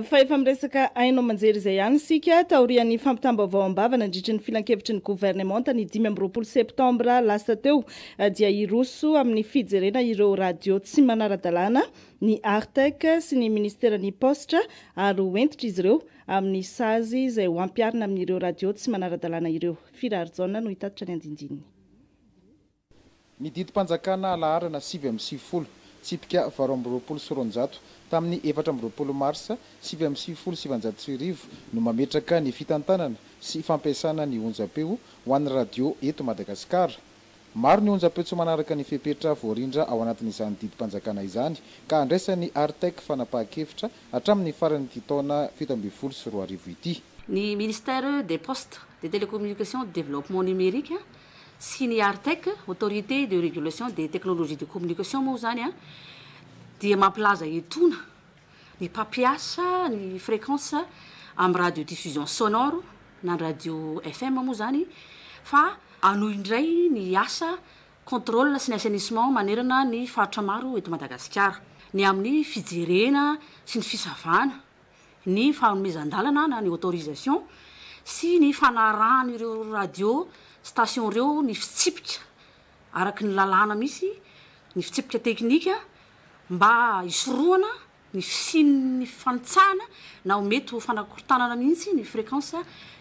Fa efa miresaka haino aman-jery izay ihany isika. Taorian'ny fampitam-baovao am-bava nandritry ny filankevitry ny governemanta ny dimy amby roapolo septambra lasa teo dia hiroso amin'ny fijerena ireo radio tsy manara-dalàna ny Artec sy ny Ministeran'ny Paositra ary ho hentitra izy ireo amin'ny sazy izay ho ampiharina amin'ireo radio tsy manara-dalàna ireo. Firary Jaona no hitatitra ny andindininy. Ny didim-panjakana laharana sivy amby sivifolo, tsipika valo amby roapolo sy roanjato, tamin'ny efatra amby roapolo marsa sivy amby sivifolo sy sivinjato sy arivo no mametraka ny fitantanana sy fampiasana ny onjampeo ho an'ny radio eto Madagasikara. Maro ny onjampeo tsy manaraka ny fepetra voarindra ao anatin'izany didim-panjakana izany ka handraisan'ny Artec fanapahan-kevitra hatramin'ny faran'ity taona fito ambin'ny folo sy roa arivo ity. Ny Ministère des Postes, des Télécommunications et du Développement Numérique sy ny Artec, Autorité de Régulation des Technologies de Communication, moa izany dia mampilaza etona ny mpampiasa ny fréquence amin'ny radiodiffusion sonore na ny radio FM moa izany fa hanohy indray ny asa contrôle sy ny assainissement manerana ny faritra maro eto Madagasikara ny amin'ny fijerena sy ny fisavana ny fanomezan-dalana na ny autorisation sy ny fanarahan'ireo radio station ireo ny fitsipika araky ny lalàna misy, ny fitsipika teknika mba hisorohana ny fisian'ny fifanitsahana na ho mety ho fanakorontanana mihitsy ny fréquence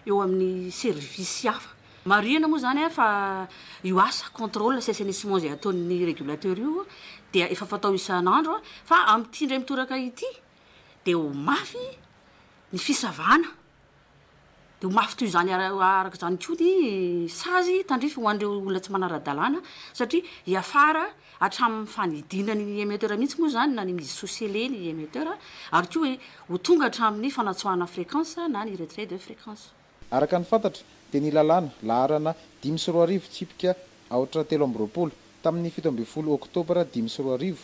eo amin'ny servisy hafa. Marihina moa izany fa io asa contrôle sy assainissement izay ataon'ny régulateur io dia efa fatao isan'andro fa amin'ity indray mitoraka ity, dia ho mafy ny fisavana, dia ho mafy toy izany araka izany koa ny sazy tandrify ho an'ireo olona tsy manara-dalàna satria hiafara hatramin'ny fanidiana ny émetteur mihitsy moa izany na ny mi-dissocier-ler ny émetteur ary koa ho tonga hatramin'ny fanatsoahana fréquence na ny retrait de fréquence. Araka ny fantatra dia ny lalàna, laharana dimy sy roa arivo tsipika aotra telo amby roapolo, tamin'ny fito ambin'ny folo oktobra dimy sy roa arivo,